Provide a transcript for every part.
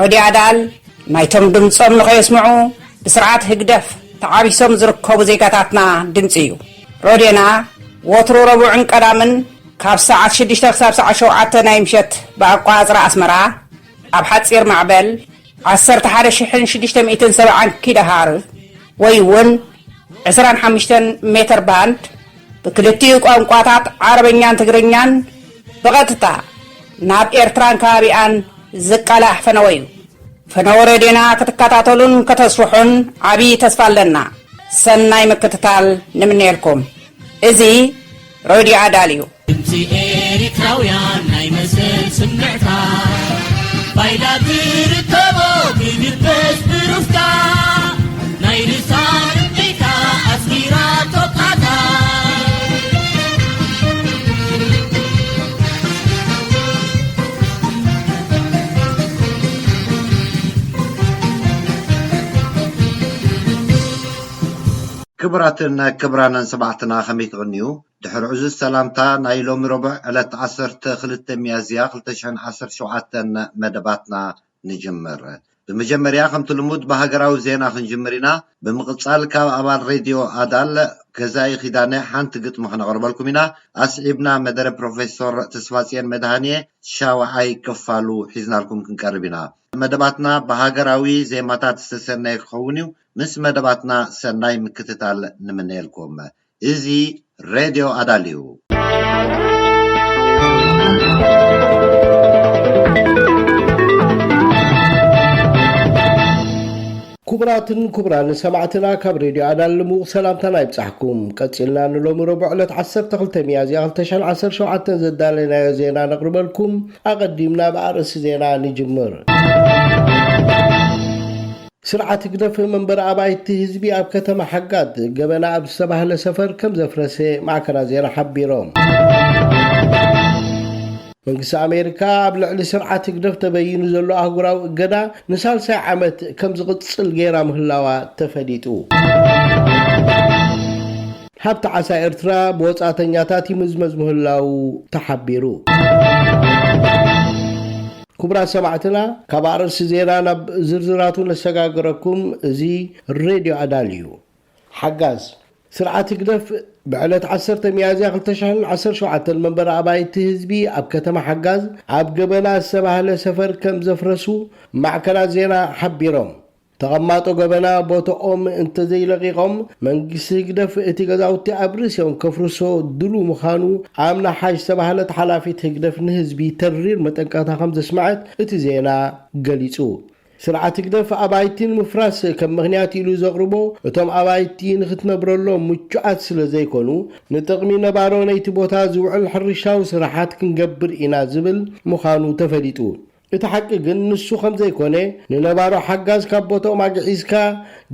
ረድዮ ኣዳል ናይቶም ድምጾም ንኸየስምዑ ብስርዓት ህግደፍ ተዓቢሶም ዝርከቡ ዜጋታትና ድምጺ እዩ። ረድዮና ወትሩ ረቡዕን ቀዳምን ካብ ሰዓት ሽዱሽተ ክሳብ ሰዓት ሸውዓተ ናይ ምሸት ብኣቆጻጽራ ኣስመራ ኣብ ሓጺር ማዕበል ዓሰርተ ሓደ ሽሕን ሽዱሽተ ሚእትን ሰብዓን ኪሎሃርዝ ወይ እውን ዕስራን ሓሙሽተን ሜተር ባንድ ብክልቲኡ ቋንቋታት ዓረበኛን ትግርኛን ብቐጥታ ናብ ኤርትራን ከባቢኣን ዝቃላሕ ፈነወ እዩ። ፈነወ ሬድዮና ክትከታተሉን ከተስርሑን ዓብዪ ተስፋ ኣለና። ሰናይ ምክትታል ንምነየልኩም። እዚ ሬድዮ ኣዳል እዩ። ድምፂ ኤሪትራውያን ናይ መሰል ስምዕታ ባይላ ትርከቦ ብድበስ ብሩፍታ ናይ ርሳ ርብቃ ኣስጊራቶ ቃታ። ክቡራትን ክብራንን ሰማዕትና ከመይ ትቅንዩ ድሕሪ ዕዙዝ ሰላምታ ናይ ሎሚ ረቡዕ ዕለት ዓሰርተ ክልተ ሚያዝያ ክልተ ሽሕን ዓሰርተ ሸውዓተን መደባትና ንጅምር ብመጀመርያ ከምቲ ልሙድ ብሃገራዊ ዜና ክንጅምር ኢና ብምቅጻል ካብ ኣባል ሬድዮ ኣዳል ገዛኢ ኪዳነ ሓንቲ ግጥሚ ከነቅርበልኩም ኢና ኣስዒብና መደረ ፕሮፈሶር ተስፋጽየን መድሃንየ ሻውዓይ ክፋሉ ሒዝናልኩም ክንቀርብ ኢና መደባትና ብሃገራዊ ዜማታት ዝተሰነየ ክከውን እዩ ምስ መደባትና ሰናይ ምክትታል ንምነየልኩም እዚ ሬድዮ ኣዳልዩ። ኩቡራትን ኩቡራንን ሰማዕትና ካብ ሬድዮ ኣዳል ልሙቕ ሰላምታና ይብጻሕኩም። ቀጺልና ንሎሚ ረቡዕ ዕለት ዓሰርተ ክልተ ሚያዝያ ክልተ ሽሕን ዓሰርተ ሸውዓተን ዘዳለናዮ ዜና ነቕርበልኩም። ኣቐዲምና ብኣርእስቲ ዜና ንጅምር። ስርዓት ህግደፍ መንበሪ ኣባይቲ ህዝቢ ኣብ ከተማ ሓጋት ገበና ኣብ ዝተባህለ ሰፈር ከም ዘፍረሰ ማዕከናት ዜና ሓቢሮም። መንግስቲ ኣሜሪካ ኣብ ልዕሊ ስርዓት ህግደፍ ተበይኑ ዘሎ ኣህጉራዊ እገዳ ንሳልሳይ ዓመት ከም ዝቕጽል ገይራ ምህላዋ ተፈሊጡ። ሃብቲ ዓሳ ኤርትራ ብወጻእተኛታት ይምዝመዝ ምህላዉ ተሓቢሩ። ኩቡራት ሰማዕትና ካብ ኣርእስቲ ዜና ናብ ዝርዝራቱ ነሰጋግረኩም እዚ ሬድዮ ኣዳል እዩ። ሓጋዝ ስርዓት ህግደፍ ብዕለት ዓሰርተ ሚያዝያ ክልተ ሽሕን ዓሰርተ ሸውዓተን መንበሪ ኣባይቲ ህዝቢ ኣብ ከተማ ሓጋዝ ኣብ ገበና ዝተባህለ ሰፈር ከም ዘፍረሱ ማዕከናት ዜና ሓቢሮም። ተቐማጦ ገበና ቦቶኦም እንተዘይለቒቖም መንግስቲ ህግደፍ እቲ ገዛውቲ ኣብ ርእሲኦም ከፍርሶ ድሉው ምኻኑ ኣምና ሓሽ ዝተባህለት ሓላፊት ህግደፍ ንህዝቢ ተሪር መጠንቀቕታ ከምዘስመዐት እቲ ዜና ገሊጹ። ስርዓት ህግደፍ ኣባይቲ ንምፍራስ ከም ምኽንያት ኢሉ ዘቕርቦ እቶም ኣባይቲ ንኽትነብረሎም ምቹኣት ስለዘይኮኑ ንጥቕሚ ነባሮ ነይቲ ቦታ ዝውዕል ሕርሻዊ ስራሓት ክንገብር ኢና ዝብል ምኻኑ ተፈሊጡ። እቲ ሓቂ ግን ንሱ ከም ዘይኮነ፣ ንነባሮ ሓጋዝ ካብ ቦትኦም ኣግዒዝካ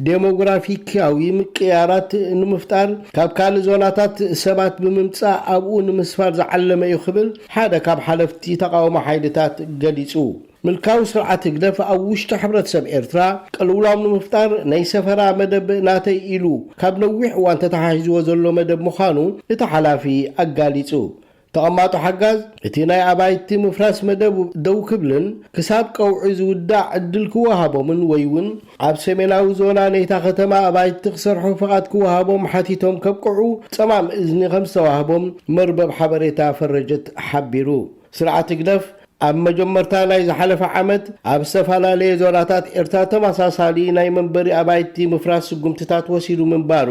ደሞግራፊክያዊ ምቅይያራት ንምፍጣር ካብ ካልእ ዞናታት ሰባት ብምምጻእ ኣብኡ ንምስፋር ዝዓለመ እዩ ክብል ሓደ ካብ ሓለፍቲ ተቓውሞ ሓይልታት ገሊጹ። ምልካዊ ስርዓት ህግደፍ ኣብ ውሽጢ ሕብረተሰብ ኤርትራ ቅልውላው ንምፍጣር ናይ ሰፈራ መደብ ናተይ ኢሉ ካብ ነዊሕ እዋን ተተሓሒዝዎ ዘሎ መደብ ምዃኑ እቲ ሓላፊ ኣጋሊጹ። ተቐማጦ ሓጋዝ እቲ ናይ ኣባይቲ ምፍራስ መደብ ደው ክብልን ክሳብ ቀውዒ ዝውዳእ ዕድል ክወሃቦምን ወይ እውን ኣብ ሰሜናዊ ዞና ነይታ ከተማ ኣባይቲ ክሰርሑ ፍቓድ ክወሃቦም ሓቲቶም ከብቅዑ ጸማም እዝኒ ከምዝተዋህቦም መርበብ ሓበሬታ ፈረጀት ሓቢሩ። ስርዓት ህግደፍ፣ ኣብ መጀመርታ ናይ ዝሓለፈ ዓመት ኣብ ዝተፈላለየ ዞናታት ኤርትራ ተመሳሳሊ ናይ መንበሪ ኣባይቲ ምፍራስ ስጉምትታት ወሲዱ ምንባሩ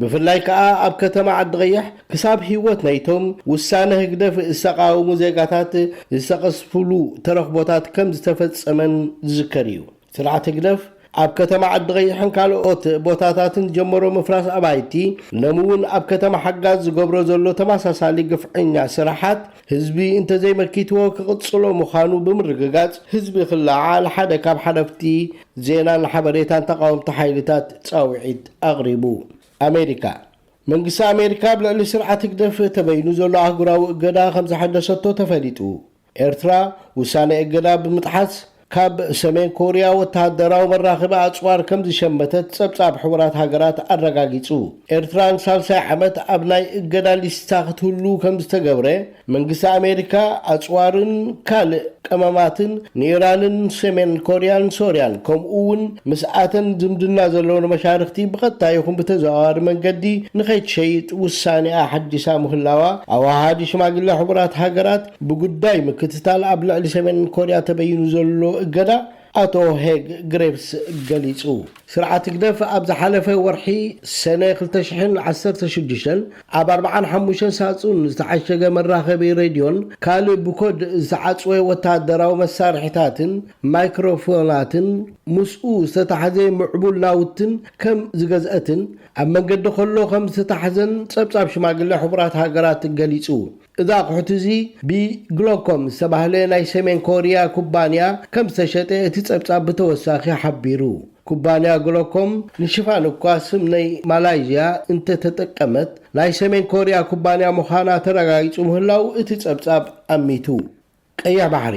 ብፍላይ ከኣ ኣብ ከተማ ዓዲቐይሕ ክሳብ ህይወት ናይቶም ውሳነ ህግደፍ ዝተቓወሙ ዜጋታት ዝተቐዝፍሉ ተረኽቦታት ከም ዝተፈጸመን ዝዝከር እዩ። ስርዓት ህግደፍ ኣብ ከተማ ዓዲቐይሕን ካልኦት ቦታታትን ዝጀመሮ ምፍራስ ኣባይቲ፣ ሎሚ እውን ኣብ ከተማ ሓጋዝ ዝገብሮ ዘሎ ተመሳሳሊ ግፍዐኛ ስራሓት ህዝቢ እንተዘይመኪትዎ ክቕጽሎ ምዃኑ ብምርግጋጽ፣ ህዝቢ ክለዓዓል ሓደ ካብ ሓለፍቲ ዜናን ሓበሬታን ተቓወምቲ ሓይልታት ጻውዒት ኣቕሪቡ። ኣሜሪካ፣ መንግስቲ ኣሜሪካ ኣብ ልዕሊ ስርዓት ህግደፍ ተበይኑ ዘሎ ኣህጉራዊ እገዳ ከምዘሐደሰቶ ተፈሊጡ። ኤርትራ፣ ውሳነ እገዳ ብምጥሓስ ካብ ሰሜን ኮርያ ወተሃደራዊ መራኽቢ ኣጽዋር ከምዝሸመተት ጸብጻብ ሕቡራት ሃገራት ኣረጋጊጹ። ኤርትራ ንሳልሳይ ዓመት ኣብ ናይ እገዳ ሊስታ ክትህሉ ከምዝተገብረ፣ መንግስቲ ኣሜሪካ ኣጽዋርን ካልእ ቀመማትን ንኢራንን ሰሜን ኮርያን ሶርያን ከምኡ'ውን ምስኣተን ዝምድና ዘለወን መሻርኽቲ ብቐጥታ ይኹን ብተዘዋዋሪ መንገዲ ንኸይትሸይጥ ውሳኔኣ ኣሐዲሳ ምህላዋ ኣወሃሃዲ ሽማግለ ሕቡራት ሃገራት ብጉዳይ ምክትታል ኣብ ልዕሊ ሰሜን ኮርያ ተበይኑ ዘሎ እገዳ ኣቶ ሄግ ግሬቭስ ገሊጹ። ስርዓት ህግደፍ ኣብ ዝሓለፈ ወርሒ ሰነ ክልተ ሽሕን ዓሰርተ ሽዱሽተን ኣብ ኣርብዓን ሓሙሽተን ሳጹን ዝተዓሸገ መራኸቢ ሬድዮን ካልእ ብኮድ ዝተዓጽወ ወተሃደራዊ መሳርሒታትን ማይክሮፎናትን ምስኡ ዝተታሕዘ ምዕቡል ናውትን ከም ዝገዝአትን ኣብ መንገዲ ከሎ ከም ዝተታሕዘን ጸብጻብ ሽማግለ ሕቡራት ሃገራት ገሊጹ። እዚ ኣቑሑት እዚ ብግሎኮም ዝተባህለ ናይ ሰሜን ኮርያ ኩባንያ ከም ዝተሸጠ እቲ ጸብጻብ ብተወሳኺ ሓቢሩ። ኩባንያ ግሎኮም ንሽፋን እኳ ስም ናይ ማላይዥያ እንተ ተጠቀመት፣ ናይ ሰሜን ኮርያ ኩባንያ ምዃና ተረጋጊጹ ምህላዉ እቲ ጸብጻብ ኣሚቱ። ቀይሕ ባሕሪ፣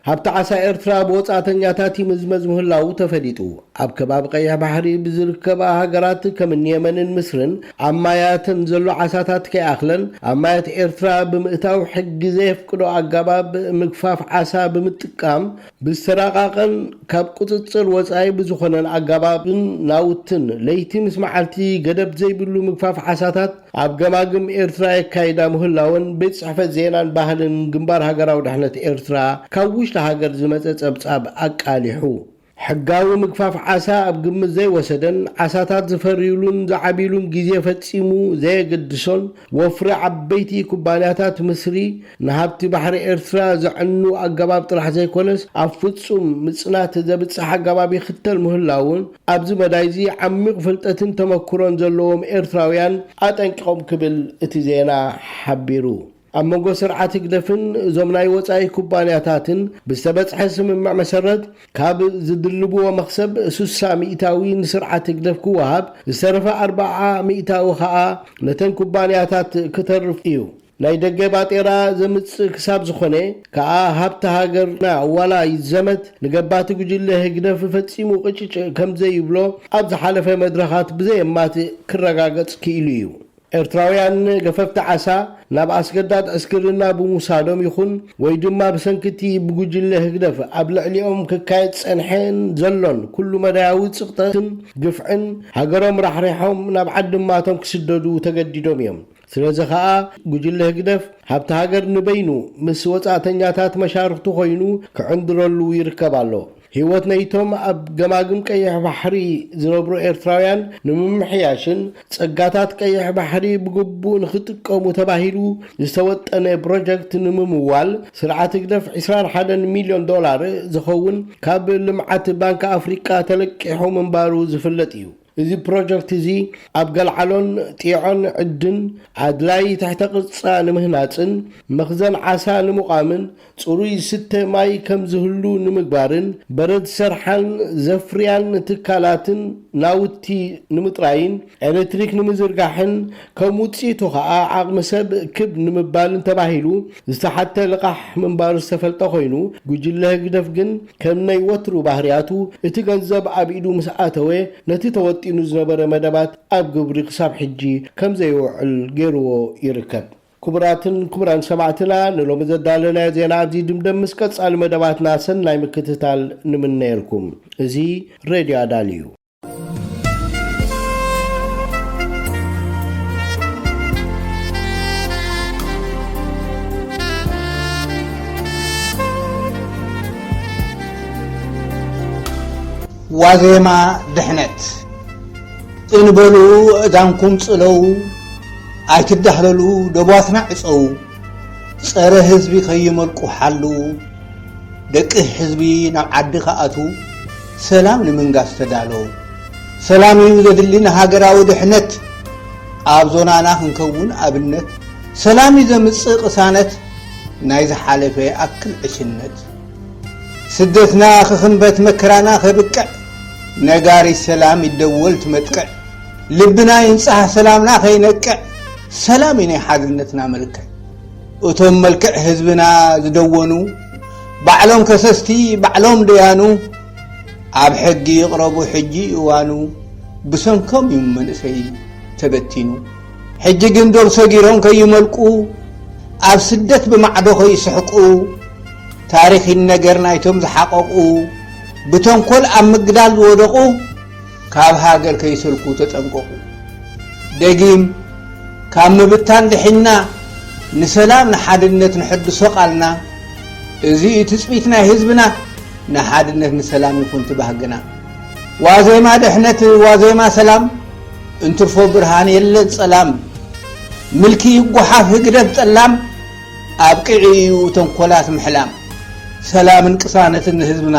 ሃብቲ ዓሳ ኤርትራ ብወጻእተኛታት ይምዝመዝ ምህላዉ ተፈሊጡ። ኣብ ከባቢ ቀይሕ ባሕሪ ብዝርከባ ሃገራት ከምኒ የመንን ምስርን ኣብ ማያተን ዘሎ ዓሳታት ከይኣኽለን ኣብ ማያት ኤርትራ ብምእታው ሕጊ ዘየፍቅዶ ኣጋባብ ምግፋፍ ዓሳ ብምጥቃም ብዝተራቃቀን ካብ ቁጽጽር ወጻኢ ብዝኾነን ኣጋባብን ናውትን ለይቲ ምስ መዓልቲ ገደብ ዘይብሉ ምግፋፍ ዓሳታት ኣብ ገማግም ኤርትራ የካይዳ ምህላወን ቤት ጽሕፈት ዜናን ባህልን ግንባር ሃገራዊ ድሕነት ኤርትራ ካብ ውሽጢ ሃገር ዝመጸ ጸብጻብ ኣቃሊሑ። ሕጋዊ ምግፋፍ ዓሳ ኣብ ግምት ዘይወሰደን ዓሳታት ዝፈርዩሉን ዝዓብይሉን ግዜ ፈጺሙ ዘየገድሶን ወፍሪ ዓበይቲ ኩባንያታት ምስሪ ንሃብቲ ባሕሪ ኤርትራ ዘዕኑ ኣገባብ ጥራሕ ዘይኮነስ ኣብ ፍጹም ምጽናት ዘብጽሕ ኣገባብ ይኽተል ምህላዉ ኣብዚ መዳይ'ዚ ዓሚቕ ፍልጠትን ተመክሮን ዘለዎም ኤርትራውያን ኣጠንቂቖም ክብል እቲ ዜና ሓቢሩ። ኣብ መንጎ ስርዓት ህግደፍን እዞም ናይ ወጻኢ ኩባንያታትን ብዝተበጽሐ ስምምዕ መሰረት፣ ካብ ዝድልብዎ መኽሰብ ስሳ ሚእታዊ ንስርዓት ህግደፍ ክወሃብ፣ ዝተረፈ ኣርብዓ ሚእታዊ ከኣ ነተን ኩባንያታት ክተርፍ እዩ። ናይ ደገ ባጤራ ዘምጽእ ክሳብ ዝኾነ ከኣ ሃብቲ ሃገርና ዋላ ይዘመት ንገባቲ ጉጅለ ህግደፍ ፈጺሙ ቅጭጭ ከምዘይብሎ ኣብ ዝሓለፈ መድረኻት ብዘየማትእ ክረጋገጽ ክኢሉ እዩ። ኤርትራውያን ገፈፍቲ ዓሳ ናብ ኣስገዳድ ዕስክርና ብምውሳዶም ይኹን ወይ ድማ ብሰንኪ'ቲ ብጉጅለ ህግደፍ ኣብ ልዕሊኦም ክካየድ ዝጸንሐን ዘሎን ኩሉ-መዳያዊ ጽቕጥን ግፍዕን ሃገሮም ራሕሪሖም ናብ ዓድማቶም ክስደዱ ተገዲዶም እዮም። ስለዚ ከኣ ጉጅለ ህግደፍ ሃብቲ ሃገር ንበይኑ ምስ ወጻእተኛታት መሻርኽቱ ኮይኑ ክዕንድረሉ ይርከብ ኣሎ። ህይወት ናይቶም ኣብ ገማግም ቀይሕ ባሕሪ ዝነብሩ ኤርትራውያን ንምምሕያሽን ጸጋታት ቀይሕ ባሕሪ ብግቡእ ንኽጥቀሙ ተባሂሉ ዝተወጠነ ፕሮጀክት ንምምዋል ስርዓት ህግደፍ ዕስራን ሓደን ሚልዮን ዶላር ዝኸውን ካብ ልምዓት ባንክ ኣፍሪቃ ተለቂሑ ምንባሩ ዝፍለጥ እዩ። እዚ ፕሮጀክት እዚ ኣብ ገልዓሎን ጢዖን ዕድን ኣድላዪ ትሕተ ቅርጻ ንምህናጽን መኽዘን ዓሳ ንምቛምን ጽሩይ ዝስተ ማይ ከም ዝህሉ ንምግባርን በረድ ዝሰርሓን ዘፍርያን ትካላትን ናውቲ ንምጥራይን ኤለትሪክ ንምዝርጋሕን ከም ውጽኢቱ ከኣ ዓቕሚ ሰብ ክብ ንምባልን ተባሂሉ ዝተሓተ ልቓሕ ምንባሩ ዝተፈልጠ ኮይኑ ጉጅለ ህግደፍ ግን ከም ናይ ወትሩ ባህርያቱ፣ እቲ ገንዘብ ኣብ ኢዱ ምስ ኣተወ፣ ነቲ ተወጢኑ ዝነበረ መደባት ኣብ ግብሪ ክሳብ ሕጂ ከም ዘየውዕል ገይሩዎ ይርከብ። ክቡራትን ክቡራን ሰማዕትና፣ ንሎሚ ዘዳለናዮ ዜና ኣብዚ ይድምደም፣ ምስ ቀጻሊ መደባትና ሰናይ ምክትታል ንምነየልኩም። እዚ ሬድዮ ኣዳል እዩ። ዋዜማ ድሕነት እንበሉ እዳንኩም ጽለው ኣይትዳህለሉ ደቧትና ዕጸዉ ጸረ ህዝቢ ከይመልቁ ሓልዉ ደቂ ህዝቢ ናብ ዓዲ ክኣትዉ ሰላም ንምንጋስ ተዳለዉ። ሰላም እዩ ዘድሊ ንሃገራዊ ድሕነት። ኣብ ዞናና ክንከውን ኣብነት። ሰላም እዩ ዘምጽእ ቅሳነት ናይ ዝሓለፈ ይኣክል ዕሽነት። ስደትና ክኽንበት መከራና ከብቅዕ ነጋሪት ሰላም ይደወል ትመጥቅዕ። ልብና ይንጻህ ሰላምና ከይነቅዕ ሰላም እዩ ናይ ሓድነትና መልክዕ። እቶም መልክዕ ህዝብና ዝደወኑ ባዕሎም ከሰስቲ ባዕሎም ደያኑ ኣብ ሕጊ ይቕረቡ ሕጂ እዋኑ ብሰንኮም እዩ መንእሰይ ተበቲኑ ሕጂ ግን ዶብ ሰጊሮም ከይመልቁ ኣብ ስደት ብማዕዶ ከይስሕቁ ታሪክ ይነገር ናይቶም ዝሓቐቑ ብተንኮል ኣብ ምግዳል ዝወደቑ ካብ ሃገር ከይሰልኩ ተጠንቀቑ። ደጊም ካብ ምብታን ድሒንና ንሰላም ንሓድነት ንሐድሶ ቃልና እዚ እዩ ትጽቢት ናይ ህዝብና ንሓድነት ንሰላም ይኹን ትባህግና ዋዜማ ድሕነት ዋዜማ ሰላም እንትርፎ ብርሃን የለን ጸላም ምልኪ ይጓሓፍ ህግደፍ ጠላም ኣብቅዒ እዩ ተንኮላት ምሕላም ሰላምን ቅሳነትን ንህዝብና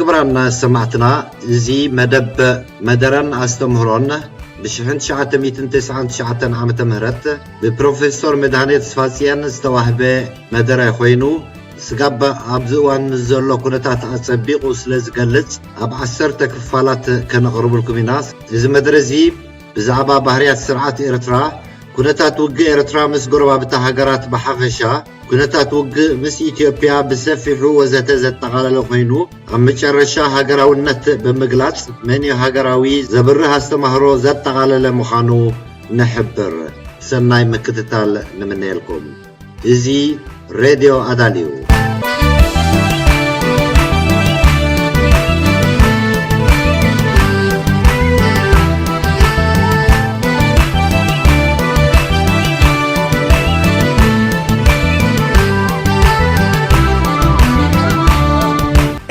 ክብራን ሰማዕትና እዚ መደብ መደረን ኣስተምህሮን ብ1999 ዓ ም ብፕሮፌሶር መድሃኔ ተስፋጽየን ዝተዋህበ መደረ ኮይኑ ስጋብ ኣብዚ እዋን ምስ ዘሎ ኩነታት ኣጸቢቑ ስለ ዝገልጽ ኣብ ዓሰርተ ክፋላት ከነቕርብልኩም ኢና እዚ መደረ እዚ ብዛዕባ ባህርያት ስርዓት ኤርትራ፣ ኩነታት ውግእ ኤርትራ ምስ ጎረባብታ ሃገራት ብሓፈሻ፣ ኩነታት ውግእ ምስ ኢትዮጵያ ብሰፊሑ ወዘተ ዘጠቓለለ ኮይኑ፣ ኣብ መጨረሻ ሃገራውነት ብምግላጽ መንዩ ሃገራዊ ዘብርህ ኣስተምህሮ ዘጠቓለለ ምዃኑ ንሕብር። ሰናይ ምክትታል ንምነየልኩም። እዚ ሬድዮ ኣዳል እዩ።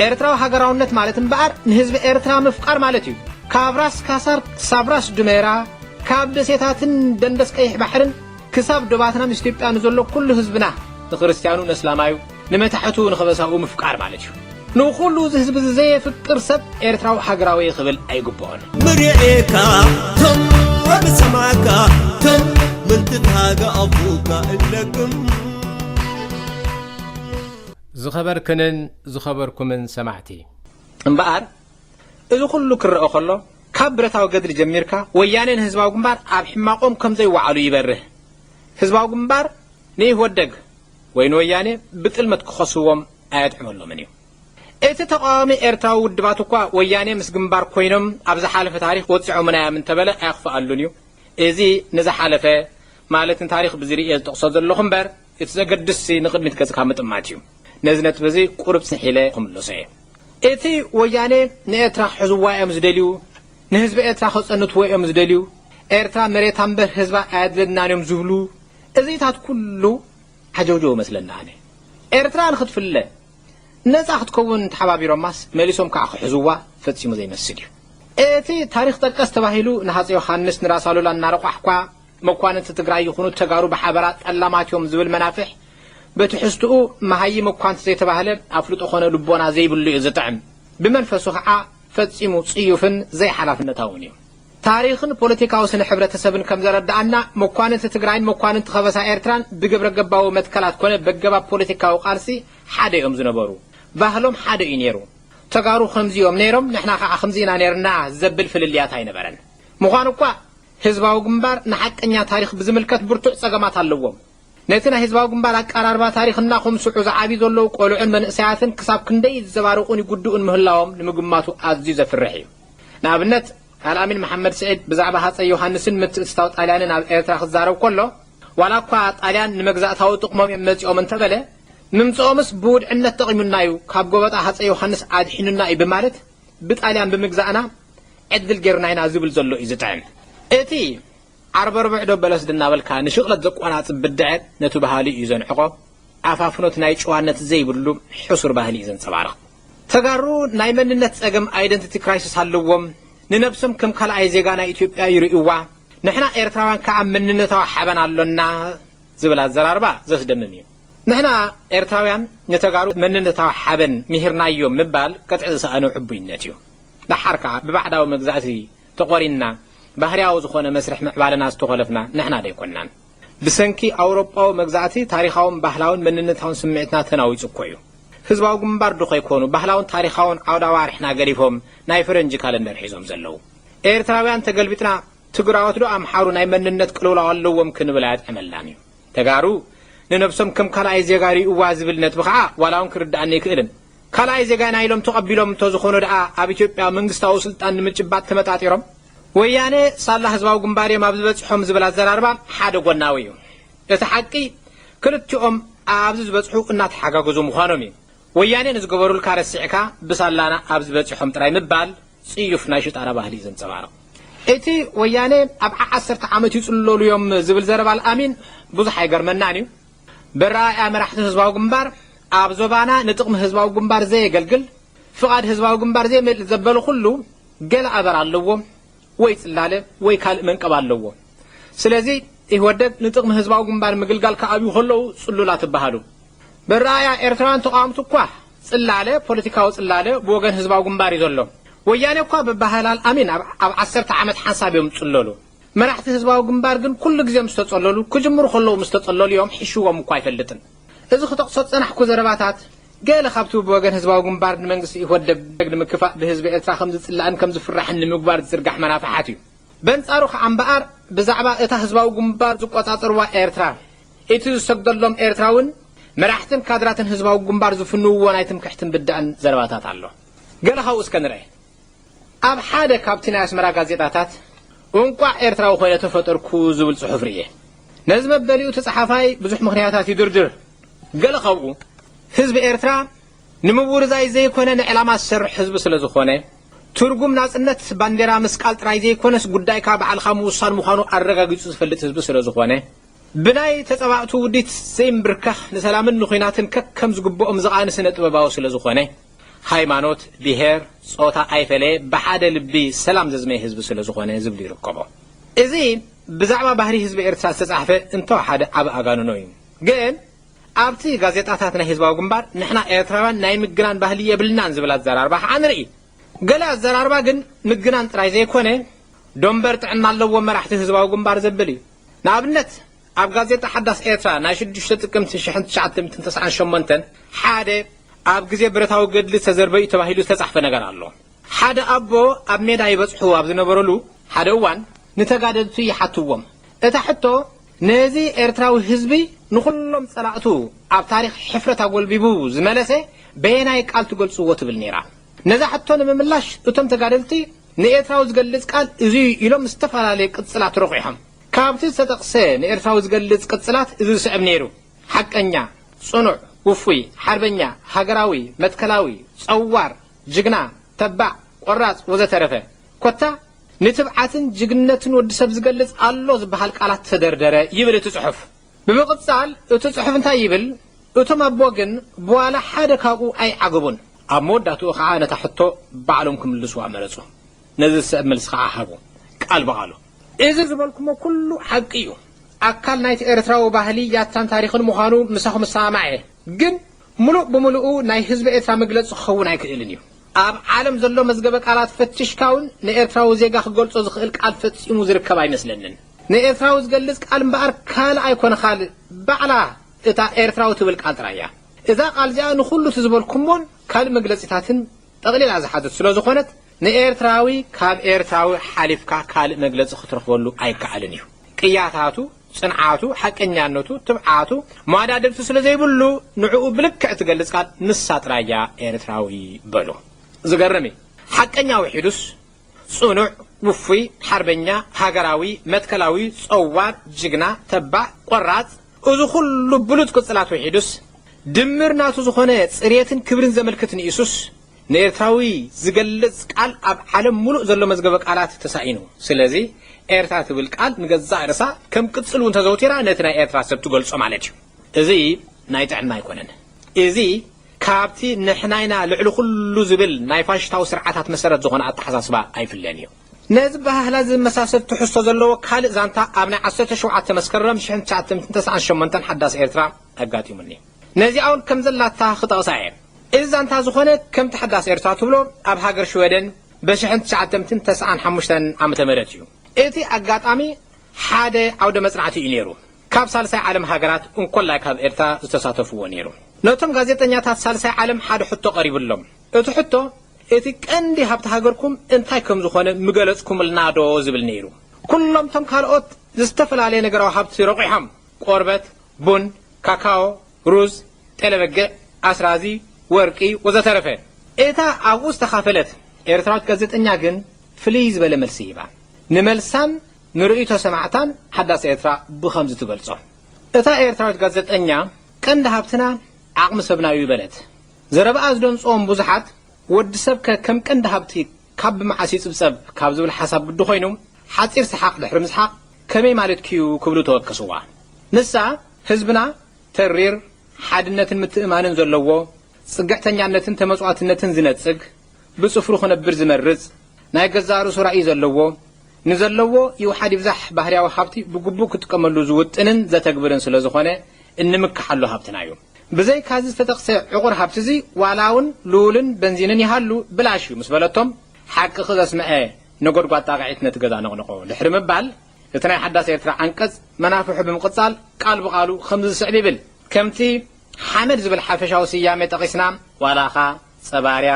ኤርትራዊ ሃገራውነት ማለት እምበኣር ንህዝቢ ኤርትራ ምፍቃር ማለት እዩ ካብ ራስ ካሳር ክሳብ ራስ ዱሜራ ካብ ደሴታትን ደንደስ ቀይሕ ባሕርን ክሳብ ዶባትና ምስ ኢትዮጵያ ንዘሎ ኩሉ ህዝብና ንክርስትያኑ ነስላማዩ ንመታሕቱ ንከበሳኡ ምፍቃር ማለት እዩ። ንኹሉ እዚ ህዝቢ እዚ ዘየፍቅር ሰብ ኤርትራዊ ሃገራዊየ ክብል ኣይግብኦን። ምርዔካ ትም ወምሰማዕካ ትም ምንትን ሃገ ኣቡካ እለክም። ዝኸበርክንን ዝኸበርኩምን ሰማዕቲ! እምበኣር እዚ ኩሉ ክረኣ ከሎ ካብ ብረታዊ ገድሊ ጀሚርካ ወያኔን ህዝባዊ ግንባር ኣብ ሕማቆም ከምዘይወዓሉ ይበርህ። ህዝባዊ ግንባር ንኢህወደግ ወይ ንወያኔ ብጥልመት ክኸስዎም ኣየጥዕመሎምን እዩ። እቲ ተቓዋሚ ኤርትራዊ ውድባት እኳ ወያኔ ምስ ግንባር ኮይኖም ኣብ ዝሓለፈ ታሪኽ ወጺዖምና እዮም እንተበለ ኣየኽፍኣሉን እዩ። እዚ ንዝሓለፈ ማለት ንታሪኽ ብዝርእ እየ ዝጠቕሶ ዘለኹ እምበር፣ እቲ ዘገድስሲ ንቕድሚት ገጽካ ምጥማት እዩ። ነዚ ነጥቢ እዚ ቁሩብ ጽንሕ ኢለ ክምልሶ እየ። እቲ ወያኔ ንኤርትራ ክሕዝዋ እዮም ዝደልዩ፣ ንህዝቢ ኤርትራ ከጸንትዎ እዮም ዝደልዩ፣ ኤርትራ መሬታ እምበር ህዝባ ኣየድለናን እዮም ዝብሉ፣ እዚታት ኩሉ ዓጀውጀው እመስለኒ ኣነ። ኤርትራ ንክትፍለ፣ ነጻ ክትከውን ተሓባቢሮማስ መሊሶም ከኣ ክሕዝዋ ፈጺሙ ዘይመስል እዩ። እቲ ታሪኽ ጠቀስ ተባሂሉ ንሃጸይ ዮሃንስ ንራስ ኣሉላ እናረቋሕኳ፣ መኳንንቲ ትግራይ ይኹኑ ተጋሩ ብሓበራ ጠላማት እዮም ዝብል መናፍሕ ብትሕዝትኡ መሃይም እኳ እንተዘይተባህለ ኣፍልጦ ኾነ ልቦና ዘይብሉ እዩ ዝጥዕም። ብመንፈሱ ኸዓ ፈፂሙ ፅዩፍን ዘይሓላፍነታውን እዩ። ታሪኽን ፖለቲካዊ ስነ ሕብረተሰብን ከምዘረደኣና መኳንንቲ ትግራይን መኳንንቲ ኸበሳ ኤርትራን ብግብረገባዊ መትከላት ኮነ በገባብ ፖለቲካዊ ቃልሲ ሓደ እዮም ዝነበሩ። ባህሎም ሓደ እዩ ነይሩ። ተጋሩ ኸምዚ እዮም ነይሮም ንሕና ኸዓ ኸምዚ ኢና ነይርና ዘብል ፍልልያት ኣይነበረን። ምዃኑ እኳ ህዝባዊ ግንባር ንሓቀኛ ታሪኽ ብዝምልከት ብርቱዕ ጸገማት ኣለዎም። ነቲ ናይ ህዝባዊ ግንባር ኣቃራርባ ታሪኽ እናኹምስዑ ዝዓብዩ ዘለዉ ቆልዑን መንእሰያትን ክሳብ ክንደይ ይዘባርቑን ይጉድኡን ምህላዎም ንምግማቱ ኣዝዩ ዘፍርሕ እዩ። ንኣብነት፣ ኣልኣሚን መሓመድ ስዒድ ብዛዕባ ሃጸይ ዮሃንስን ምትእትታው ጣልያንን ኣብ ኤርትራ ክዛረብ ከሎ፣ ዋላ እኳ ጣልያን ንመግዛእታዊ ጥቕሞም እዮም መጺኦም እንተበለ፣ ምምጽኦምስ ብውድዕነት ጠቒሙና እዩ፣ ካብ ጎበጣ ሃጸይ ዮሃንስ ኣድሒኑና እዩ ብማለት ብጣልያን ብምግዛእና ዕድል ጌርና ኢና ዝብል ዘሎ እዩ ዝጥዕም። እቲ ዓርበርብዕዶ በለስዶ እናበልካ ንሽቕለት ዘቆናጽብ ብድዐ ነቱ ባህሊ እዩ ዘንዕቆ፣ ኣፋፍኖት ናይ ጭዋነት ዘይብሉ ሕሱር ባህሊ እዩ ዘንጸባርቕ። ተጋሩ ናይ መንነት ጸገም ኣይደንቲቲ ክራይስስ ኣለዎም፣ ንነብሶም ከም ካልኣይ ዜጋ ናይ ኢትዮጵያ ይርእዩዋ፣ ንሕና ኤርትራውያን ከኣ መንነታዊ ሓበን ኣሎና ዝብል ኣዘራርባ ዘስደምም እዩ። ንሕና ኤርትራውያን ንተጋሩ መንነታዊ ሓበን ምሂርናዮም ምባል ቅጥዒ ዝሰኣኖ ዕቡይነት እዩ። ደሓር ከኣ ብባዕዳዊ መግዛእቲ ተቖሪንና ባህርያዊ ዝኾነ መስርሕ ምዕባለና ዝተኾለፍና ንሕና ዶ ኣይኮናን? ብሰንኪ ኣውሮጳዊ መግዛእቲ ታሪኻውን ባህላውን መንነታውን ስምዒትና ተናዊጹ እኮ እዩ። ህዝባዊ ግንባር ዶ ከይኮኑ ባህላውን ታሪኻውን ዓውደ ኣዋርሕና ገዲፎም ናይ ፈረንጂ ካለንደር ሒዞም ዘለዉ? ኤርትራውያን ተገልቢጥና ትግራዎት ዶ ኣምሓሩ ናይ መንነት ቅልውላው ኣለዎም ክንብል ኣየጥዕመልናን እዩ። ተጋሩ ንነብሶም ከም ካልኣይ ዜጋ ሪኡዋ ዝብል ነጥቢ ከኣ ዋላውን ክርድኣኒ ኣይክእልን። ካልኣይ ዜጋና ኢሎም ተቐቢሎም እንተዝኾኑ ደኣ ኣብ ኢትዮጵያ መንግስታዊ ስልጣን ንምጭባጥ ተመጣጢሮም? ወያነ ሳላ ህዝባዊ ግንባር እዮም ኣብ ዝበጽሖም ዝብል ኣዘራርባ ሓደ ጎናዊ እዩ። እቲ ሓቂ ክልቲኦም ኣብዚ ዝበጽሑ እናተሓጋገዙ ምዃኖም እዩ። ወያኔ ንዝገበሩልካ ረሲዕካ ብሳላና ኣብዚ በጺሖም ጥራይ ምባል ጽዩፍ ናይ ሽጣራ ባህሊ ዘንጸባርቕ። እቲ ወያኔ ኣብ ዓ ዓሰርተ ዓመት ይጽለሉ እዮም ዝብል ዘረባ ኣልኣሚን ብዙሕ ኣይገርመናን እዩ። በረኣእያ መራሕቲ ህዝባዊ ግንባር ኣብ ዞባና ንጥቕሚ ህዝባዊ ግንባር ዘየገልግል፣ ፍቓድ ህዝባዊ ግንባር ዘይመልእ ዘበለ ኩሉ ገለ ኣበር ኣለዎ፣ ወይ ጽላለ ወይ ካልእ መንቀብ ኣለዎ። ስለዚ ኢህወደግ ንጥቕሚ ህዝባዊ ግንባር ምግልጋል ክኣብዩ ከለዉ ጽሉላት እበሃሉ። በረኣእያ ኤርትራውያን ተቓወምቲ እኳ ጽላለ ፖለቲካዊ ጽላለ ብወገን ህዝባዊ ግንባር እዩ ዘሎ። ወያኔ እኳ ብባህላል ኣሚን ኣብ ዓሰርተ ዓመት ሓንሳብ እዮም ዝጽለሉ። መራሕቲ ህዝባዊ ግንባር ግን ኩሉ ግዜ ምስ ተጸለሉ፣ ክጅምሩ ከለዉ ምስ ተጸለሉ እዮም፣ ሒሽዎም እኳ ኣይፈልጥን። እዚ ክጠቕሶ ዝጸናሕኩ ዘረባታት ገለ ካብቲ ብወገን ህዝባዊ ግንባር ንመንግስቲ ኢህወደግ ንምክፋእ ብህዝቢ ኤርትራ ከም ዝጽላእን ከም ዝፍራሕን ንምግባር ዝዝርጋሕ መናፍሓት እዩ። በንጻሩ ከኣ እምበኣር ብዛዕባ እታ ህዝባዊ ግንባር ዝቆጻጸርዋ ኤርትራ እቲ ዝሰግደሎም ኤርትራውን መራሕትን ካድራትን ህዝባዊ ግንባር ዝፍንውዎ ናይ ትምክሕትን ብዳእን ዘረባታት ኣሎ። ገለ ካብኡ እስከ ንርኤ። ኣብ ሓደ ካብቲ ናይ ኣስመራ ጋዜጣታት እንቋዕ ኤርትራዊ ኮይነ ተፈጠርኩ ዝብል ጽሑፍ ርእየ። ነዚ መበሊኡ እቲ ጸሓፋይ ብዙሕ ምኽንያታት ይድርድር። ገለ ካብኡ ህዝቢ ኤርትራ ንምውርዛይ ዘይኮነ ንዕላማ ዝሰርሕ ህዝቢ ስለ ዝኾነ፣ ትርጉም ናጽነት ባንዴራ ምስቃል ጥራይ ዘይኮነስ ጉዳይካ ባዕልኻ ምውሳን ምዃኑ ኣረጋጊጹ ዝፈልጥ ህዝቢ ስለ ዝኾነ፣ ብናይ ተጻባእቱ ውዲት ዘይምብርካኽ ንሰላምን ንኩናትን ከከም ዝግብኦም ዝቓኒ ስነ ጥበባዊ ስለ ዝኾነ፣ ሃይማኖት፣ ብሄር፣ ጾታ ኣይፈለየ ብሓደ ልቢ ሰላም ዘዝመየ ህዝቢ ስለ ዝኾነ ዝብሉ ይርከቦ። እዚ ብዛዕባ ባህሪ ህዝቢ ኤርትራ ዝተጻሕፈ እንተወ ሓደ ዓቢ ኣጋንኖ እዩ። ግን ኣብቲ ጋዜጣታት ናይ ህዝባዊ ግንባር ንሕና ኤርትራውያን ናይ ምግናን ባህሊ የብልናን ዝብል ኣዘራርባ ከኣ ንርኢ። ገለ ኣዘራርባ ግን ምግናን ጥራይ ዘይኮነ ዶምበር ጥዕና ኣለዎም መራሕቲ ህዝባዊ ግንባር ዘብል እዩ። ንኣብነት ኣብ ጋዜጣ ሓዳስ ኤርትራ ናይ ሽዱሽተ ጥቅምቲ ሽሕን ትሽዓተ ሚእትን ተስዓን ሸሞንተን ሓደ ኣብ ግዜ ብረታዊ ገድሊ ዝተዘርበ'ዩ ተባሂሉ ዝተጻሕፈ ነገር ኣሎ። ሓደ ኣቦ ኣብ ሜዳ ይበጽሑ ኣብ ዝነበሩሉ ሓደ እዋን ንተጋደልቱ ይሓትዎም እታ ሕቶ፣ ነዚ ኤርትራዊ ህዝቢ ንኹሎም ጸላእቱ ኣብ ታሪኽ ሕፍረት ኣጎልቢቡ ዝመለሰ በየናይ ቃል ትገልጽዎ ትብል ነይራ። ነዛ ሕቶ ንምምላሽ እቶም ተጋደልቲ ንኤርትራዊ ዝገልጽ ቃል እዚ'ዩ ኢሎም ዝተፈላለየ ቅጽላት ረቝሖም። ካብቲ ዝተጠቕሰ ንኤርትራዊ ዝገልጽ ቅጽላት እዚ ዝስዕብ ነይሩ፣ ሓቀኛ፣ ጽኑዕ፣ ውፉይ፣ ሓርበኛ፣ ሃገራዊ፣ መትከላዊ፣ ጸዋር፣ ጅግና፣ ተባዕ፣ ቆራጽ፣ ወዘተረፈ። ኮታ ንትብዓትን ጅግንነትን ወዲ ሰብ ዝገልጽ ኣሎ ዝበሃል ቃላት ተደርደረ ይብል እቲ ጽሑፍ። ብምቕጻል እቲ ጽሑፍ እንታይ ይብል፣ እቶም ኣቦ ግን ብዋላ ሓደ ካብኡ ኣይዓገቡን። ኣብ መወዳእትኡ ከኣ ነታ ሕቶ ባዕሎም ክምልሱዋ መረጹ። ነዚ ዝስዕብ መልሲ ከኣ ሃቡ፣ ቃል ብቓሉ። እዚ ዝበልኩሞ ኩሉ ሓቂ እዩ። ኣካል ናይቲ ኤርትራዊ ባህሊ፣ ያታን ታሪኽን ምዃኑ ምሳኹም እሰማማዕ እየ። ግን ምሉእ ብምሉኡ ናይ ህዝቢ ኤርትራ መግለጺ ክኸውን ኣይክእልን እዩ። ኣብ ዓለም ዘሎ መዝገበ ቃላት ፈቲሽካ ውን ንኤርትራዊ ዜጋ ክገልጾ ዝኽእል ቃል ፈጺሙ ዝርከብ ኣይመስለንን። ንኤርትራዊ ዝገልጽ ቃል እምበኣር ካልእ ኣይኮነ ካል ባዕላ እታ ኤርትራዊ ትብል ቃል ጥራይ እያ። እዛ ቃል እዚኣ ንኹሉ እቲ ዝበልኩሞን ካልእ መግለጺታትን ጠቕሊላ ዝሓዘት ስለ ዝኾነት ንኤርትራዊ ካብ ኤርትራዊ ሓሊፍካ ካልእ መግለጺ ክትረኽበሉ ኣይከኣልን እዩ። ቅያታቱ ጽንዓቱ፣ ሓቀኛነቱ፣ ትብዓቱ መዋዳድርቲ ስለ ዘይብሉ ንዕኡ ብልክዕ እትገልጽ ቃል ንሳ ጥራይ እያ ኤርትራዊ በሉ። ዝገርም እዩ። ሓቀኛ ውሒዱስ ጽኑዕ፣ ውፉይ፣ ሓርበኛ፣ ሃገራዊ፣ መትከላዊ፣ ጸዋር፣ ጅግና፣ ተባዕ፣ ቆራጽ እዚ ኩሉ ብሉጽ ቅጽላት ውሒዱስ ድምር ናቱ ዝኾነ ጽሬትን ክብርን ዘመልክት ንኢሱስ ንኤርትራዊ ዝገልጽ ቃል ኣብ ዓለም ምሉእ ዘሎ መዝገበ ቃላት ተሳኢኑ። ስለዚ ኤርትራ ትብል ቃል ንገዛእ ርእሳ ከም ቅጽል እውን ተዘውቲራ ነቲ ናይ ኤርትራ ሰብ ትገልጾ ማለት እዩ። እዚ ናይ ጥዕና ኣይኮነን። እዚ ካብቲ ንሕና ኢና ልዕሊ ኩሉ ዝብል ናይ ፋሽስታዊ ስርዓታት መሰረት ዝኾነ ኣተሓሳስባ ኣይፍለን እዩ። ነዚ ባህላ ዝመሳሰል ትሕዝቶ ዘለዎ ካልእ ዛንታ ኣብ ናይ ዓሰርተ ሸውዓተ መስከረም ሽሕን ትሽዓተ ሚእትን ተስዓን ሸሞንተን ሓዳስ ኤርትራ፣ ኣጋጢሙኒ ነዚኣ ውን ከም ዘላታ ክጠቕሳ እየ እዚ ዛንታ ዝኾነ ከምቲ ሓዳስ ኤርትራ ትብሎ ኣብ ሃገር ሽወደን በሽሕን ትሽዓተምትን ተስዓን ሓሙሽተን ዓመተ ምህረት እዩ እቲ ኣጋጣሚ ሓደ ዓውደ መጽናዕቲ እዩ ኔሩ ካብ ሳልሳይ ዓለም ሃገራት እንኮላይ ካብ ኤርትራ ዝተሳተፍዎ ኔሩ ነቶም ጋዜጠኛታት ሳልሳይ ዓለም ሓደ ሕቶ ቀሪብሎም እቲ ሕቶ እቲ ቀንዲ ሃብቲ ሃገርኩም እንታይ ከም ዝኾነ ምገለጽኩምልና ዶ ዝብል ኔሩ ኩሎም ቶም ካልኦት ዝተፈላለየ ነገራዊ ሃብቲ ረቑሖም ቆርበት ቡን፣ ካካዎ፣ ሩዝ፣ ጤለበጊዕ፣ ኣስራዚ፣ ወርቂ ወዘተረፈ። እታ ኣብኡ ዝተኻፈለት ኤርትራዊት ጋዜጠኛ ግን ፍልይ ዝበለ መልሲ ሂባ። ንመልሳን ንርእይቶ ሰማዕታን ሓዳስ ኤርትራ ብኸምዚ ትገልጾ። እታ ኤርትራዊት ጋዜጠኛ ቀንዲ ሃብትና ዓቕሚ ሰብና'ዩ በለት። ዘረባኣ ዝደንጽዎም ብዙሓት ወዲ ሰብከ ከም ቀንዲ ሃብቲ ካብ ብመዓስ ይጽብጸብ ካብ ዝብል ሓሳብ ግዲ ኮይኑ ሓጺር ሰሓቕ ድሕሪ ምስሓቕ ከመይ ማለትኪ'ዩ ክብሉ ተወከስዋ። ንሳ ህዝብና ተሪር ሓድነትን ምትእምማንን ዘለዎ፣ ጽግዕተኛነትን ተመጽዋትነትን ዝነጽግ፣ ብጽፍሩ ክነብር ዝመርጽ፣ ናይ ገዛእ ርእሱ ራእይ ዘለዎ፣ ንዘለዎ ይውሓድ ይብዛሕ ባህርያዊ ሃብቲ ብግቡእ ክጥቀመሉ ዝውጥንን ዘተግብርን ስለዝኾነ እንምከሓሉ ሃብትና'ዩ። ብዘይካ እዚ ዝተጠቕሰ ዕቑር ሃብቲ እዚ ዋላ እውን ሉልን በንዚንን ይሃሉ ብላሽ እዩ ምስ በለቶም ሓቅኺ ዘስመዐ ነጎድጓድ ጣቕዒት ነቲ ገዛ ነቕነቖ። ድሕሪ ምባል እቲ ናይ ሓዳስ ኤርትራ ዓንቀጽ መናፍሑ ብምቕጻል ቃል ብቓሉ ከምዚ ዝስዕብ ይብል። ከምቲ ሓመድ ዝብል ሓፈሻዊ ስያሜ ጠቒስና ዋላኻ ጸባርያ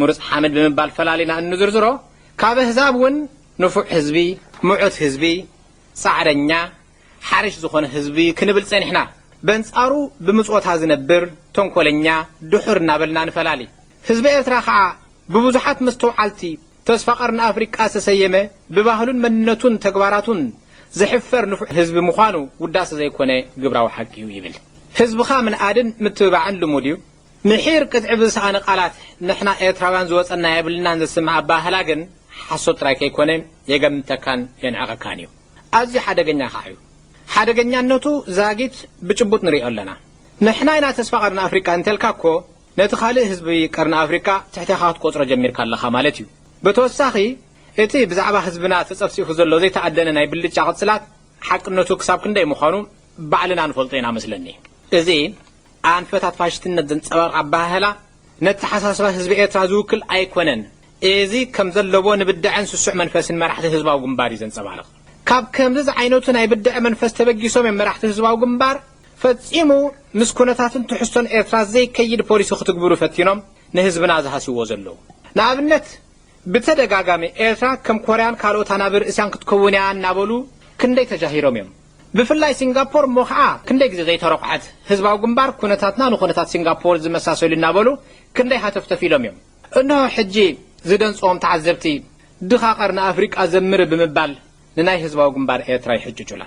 ምሩጽ ሓመድ ብምባል ፈላሊና እንዝርዝሮ ካብ ኣህዛብ እውን ንፉዕ ህዝቢ፣ ምዑት ህዝቢ፣ ጻዕረኛ፣ ሓሪሽ ዝኾነ ህዝቢ ክንብል ጸኒሕና። በንጻሩ ብምጽወታ ዝነብር ተንኮለኛ ድሑር እናበልና ንፈላሊ። ህዝቢ ኤርትራ ከኣ ብብዙሓት መስተውዓልቲ ተስፋ ቀርኒ ኣፍሪቃ ዝተሰየመ ብባህሉን መንነቱን ተግባራቱን ዝሕፈር ንፉዕ ህዝቢ ምዃኑ ውዳሰ ዘይኮነ ግብራዊ ሓቂ'ዩ ይብል። ህዝብኻ ምንኣድን ምትብባዕን ልሙድ'ዩ። ምሒር ቅጥዒ ብዝሰኣነ ቃላት ንሕና ኤርትራውያን ዝወጸና የብልናን ዘስምዕ ኣበሃህላ ግን ሓሶት ጥራይ ከይኮነ የገምተካን የንዕቐካን'ዩ። ኣዝዩ ሓደገኛ ከኣ እዩ። ሓደገኛነቱ ዛጊት ብጭቡጥ ንርእዮ ኣለና። ንሕና ኢና ተስፋ ቀርኒ ኣፍሪቃ እንተልካ እኮ ነቲ ካልእ ህዝቢ ቀርኒ ኣፍሪቃ ትሕቴኻ ክትቆጽሮ ጀሚርካ ኣለኻ ማለት እዩ። ብተወሳኺ እቲ ብዛዕባ ህዝብና ተጸፍጺፉ ዘሎ ዘይተኣደነ ናይ ብልጫ ቅጽላት ሓቅነቱ ክሳብ ክንደይ ምዃኑ ባዕልና ንፈልጦ ኢና መስለኒ። እዚ ኣንፈታት ፋሽስትነት ዘንጸባርቕ ኣበሃህላ፣ ነተሓሳስባ ህዝቢ ኤርትራ ዝውክል ኣይኮነን። እዚ ከም ዘለዎ ንብደዐን ስሱዕ መንፈስን መራሕቲ ህዝባዊ ግንባር እዩ ዘንጸባርቕ። ካብ ከምዚ ዝዓይነቱ ናይ ብደዐ መንፈስ ተበጊሶም እዮም መራሕቲ ህዝባዊ ግንባር ፈጺሙ ምስ ኩነታትን ትሕዝቶን ኤርትራ ዘይከይድ ፖሊሲ ክትግብሩ ፈቲኖም ንህዝብና ዝሃስይዎ ዘለዉ። ንኣብነት ብተደጋጋሚ ኤርትራ ከም ኮርያን ካልኦት ኣናብር እስያን ክትከውን እያ እናበሉ ክንደይ ተጃሂሮም እዮም። ብፍላይ ሲንጋፖር እሞ ኸኣ ክንደይ ግዜ ዘይተረኹዐት። ህዝባዊ ግንባር ኩነታትና ንኩነታት ሲንጋፖር ዝመሳሰል እዩ እናበሉ ክንደይ ሃተፍተፍ ኢሎም እዮም። እንሆ ሕጂ ዝደንጽዎም ተዓዘብቲ ድኻ ቀርኒ ኣፍሪቃ ዘምሪ ብምባል ንናይ ህዝባዊ ግንባር ኤርትራ ይሕጭጩላ።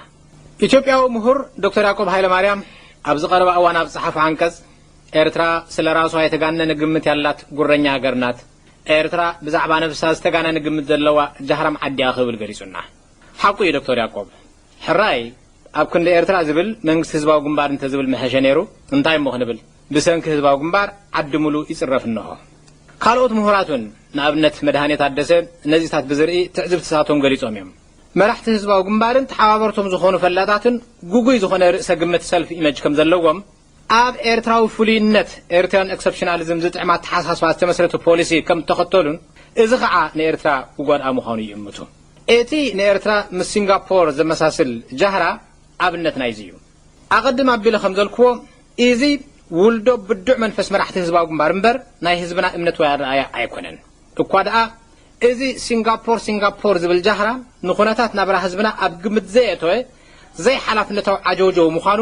ኢትዮጵያዊ ምሁር ዶክተር ያቆብ ሃይለማርያም ኣብዚ ቀረባ እዋን ኣብ ዝጸሓፎ ዓንቀጽ ኤርትራ ስለ ራሷ የተጋነነ ግምት ያላት ጉረኛ ሃገር ናት፣ ኤርትራ ብዛዕባ ነብሳ ዝተጋነነ ግምት ዘለዋ ጃህራም ዓዲ'ያ ክብል ገሊጹና። ሓቁ እዩ ዶክቶር ያቆብ ሕራይ ኣብ ክንዲ ኤርትራ ዝብል መንግስቲ ህዝባዊ ግንባር እንተዝብል ምሐሸ ነይሩ እንታይ እሞ ክንብል ብሰንኪ ህዝባዊ ግንባር ዓዲ ሙሉ ይጽረፍ እንሆ ካልኦት ምሁራት ውን ንኣብነት መድሃኔ ታደሰ ነዚታት ብዝርኢ ትዕዝብትታቶም ገሊጾም እዮም መራሕቲ ህዝባዊ ግንባርን ተሓባበርቶም ዝኾኑ ፈላጣትን ጉጉይ ዝኾነ ርእሰ ግምት ሰልፍ ኢመጅ ከምዘለዎም ኣብ ኤርትራዊ ፍሉይነት፣ Eritrean Exceptionalism፣ ዝጥዕም ኣተሓሳስባ ዝተመስረተ ፖሊሲ ከም እተኸተሉን እዚ ኸኣ ንኤርትራ ክጎድኣ ምዃኑ ይእምቱ። እቲ ንኤርትራ ምስ ሲንጋፖር ዘመሳስል ጃህራ ኣብነት ናይዚ እዩ። ኣቐድም ኣቢለ ከም ዘልክዎ ኢዚ ውልዶ ብዱዕ መንፈስ መራሕቲ ህዝባዊ ግንባር እምበር ናይ ህዝብና እምነት ወይ ኣረኣእያ ኣይኮነን። እኳ ደኣ እዚ ሲንጋፖር ሲንጋፖር ዝብል ጃህራ ንኩነታት ናብራ ህዝብና ኣብ ግምት ዘየእተወ ዘይሓላፍነታዊ ዓጀውጀው ምዃኑ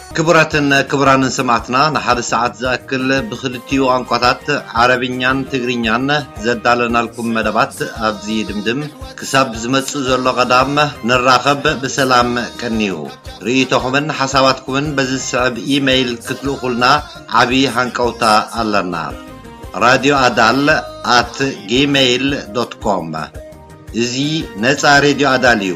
ክቡራትን ክቡራንን ሰማዕትና ንሓደ ሰዓት ዝኣክል ብኽልቲኡ ቋንቋታት ዓረብኛን ትግርኛን ዘዳለናልኩም መደባት ኣብዚ ይድምድም። ክሳብ ዝመጽእ ዘሎ ቀዳም ንራኸብ ብሰላም ቀንዩ። ርእይቶኹምን ሓሳባትኩምን በዚ ዝስዕብ ኢመይል ክትልእኹልና ዓቢ ሃንቀውታ ኣለና። ራድዮ ኣዳል ኣት ጊመይል ዶት ኮም እዚ ነጻ ሬድዮ ኣዳል እዩ።